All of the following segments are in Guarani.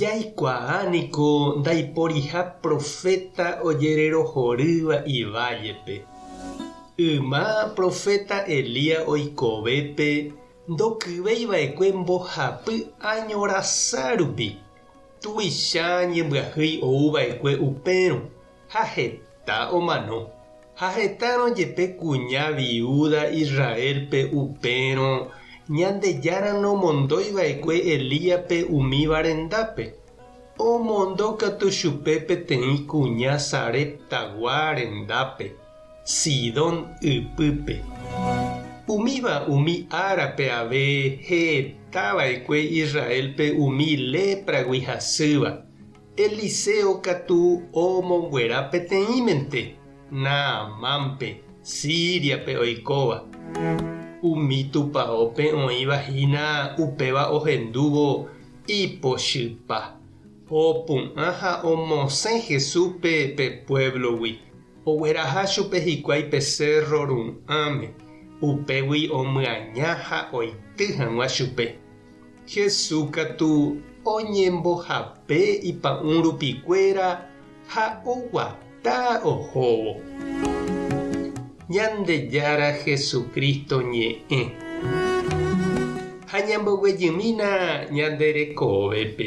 Jaikuaa niko ndaiporiha proféta ojererohorýva ivállepe. Yma proféta Elías oikovépe ndokyvéi va'ekue mbohapy áño rasa rupi, tuicha ñembyahýi ou va'ekue upérõ. Ha heta omano. Ha hetárõ jepe kuña viúda Israélpe upérõ, Ñandejára nomondói va'ekue Elíape umíva rendápe. Omondo katu chupe peteĩ kuña Sareptagua rendápe, Sidón ypýpe. Umíva umi árape ave heta va'ekue Israélpe umi lépragui hasýva. Eliseo katu omonguera peteĩmente Naamánpe, Síriape oikóva. Umi tupaópe oĩva hína upéva ohendúvo ipochypa, opu'ã ha omosẽ Jesúspe pe puévlogui. Ogueraha chupe hikuái pe sérro ru'ãme, upégui omyaña ha oity hag̃ua chupe. Jesús katu oñembohape ipa'ũ rupikuéra ha oguata ohóvo. Ñandejára Jesucristo ñe'ẽ. Ha ñamboguejymína ñande rekovépe.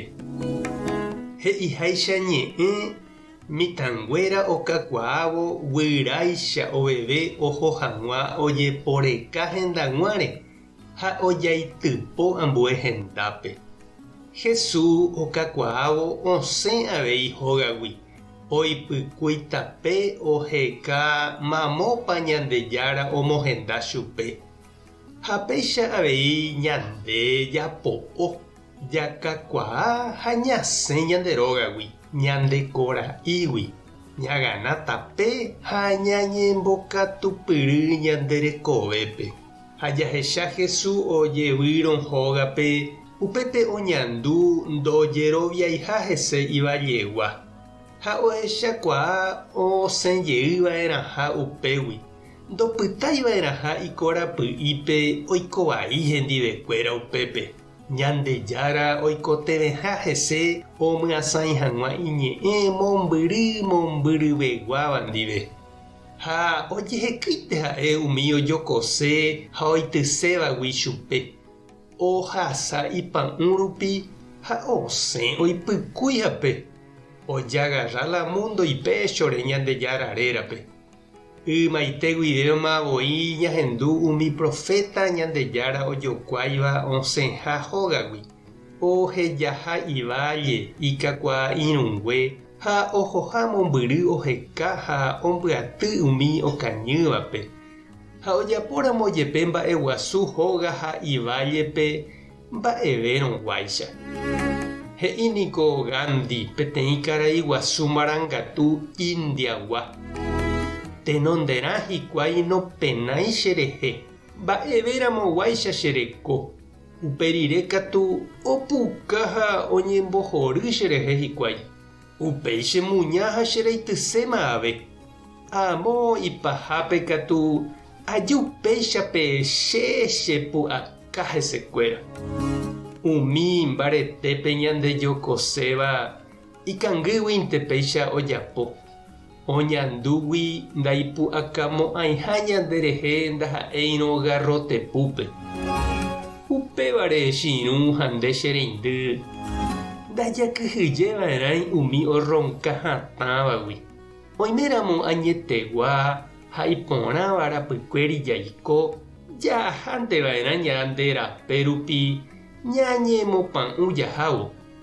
He'iháicha ñe'ẽ mitãnguéra okakuaávo guyráicha oveve oho hag̃ua ojeporeka hendaguãre Ha ojaitypo ambue hendápe. Hesu okakuaávo osẽ avei hógagui, oipykúi tape oheka mamópa Ñandejára omohenda chupe. Ha péicha avei ñande japo'o, jakakuaa ha ñasẽ ñande rógagui, ñande kora'ígui, ñagana tape ha ñañembokatupyry ñande rekovépe. Ha jahecha Jesús ojevýrõ hógape, upépe oñandu ndojeroviaiha hese ivallégua. Ha ohechakuaa osẽ jey va'erãha upégui, ndopytái va'erãha ikorapy'ípe oiko vai hendivekuéra upépe. Ñandejára oikotevẽha hese omyasãi hag̃ua iñe'ẽ mombyry mombyryveguáva ndive. Ha ojehekýite ha'e umi ojokose ha oitysévagui chupe, ohasa ipa'ũ rupi ha osẽ oipykúi hape, ojagarra la múndo ipéchore Ñandejára rérape. Ymaite guivéma voi ñahendu umi proféta Ñandejára ojokuáiva osẽha hógagui, ohejaha iválle ikakuaa irũngue Ha ohoha mombyry oheka ha ombyaty umi okañývape. Ha ojapóramo jepe mba'eguasu hóga ha ivállepe mba'evérõ guáicha. He'i niko Gandhi peteĩ karai guasu marangatu Indiagua, Tenonderã hikuái nopenái cherehe, mba'evéramo guáicha chereko. Upe rire katu opuka ha oñembohory cherehe hikuái, upéi chemuña ha cheraityséma ave. Amo ipahápe katu aju péicha peẽ che chepu'aka hesekuéra. Umi mbaretépe ñandejokoséva Ikangýguinte péicha ojapo, oñandúgui ndaipu'akamo'ãiha ñanderehe ndaha'éirõ garrotepúpe. Upévare echirũ ha nde che reindy, ndajakyhyjeva'erãi umi orronka hatãvagui. Oiméramo añetegua ha iporãva rapykuéri jaiko, jahánte va'erã ñande rape rupi ñañemopã'ũ jahávo.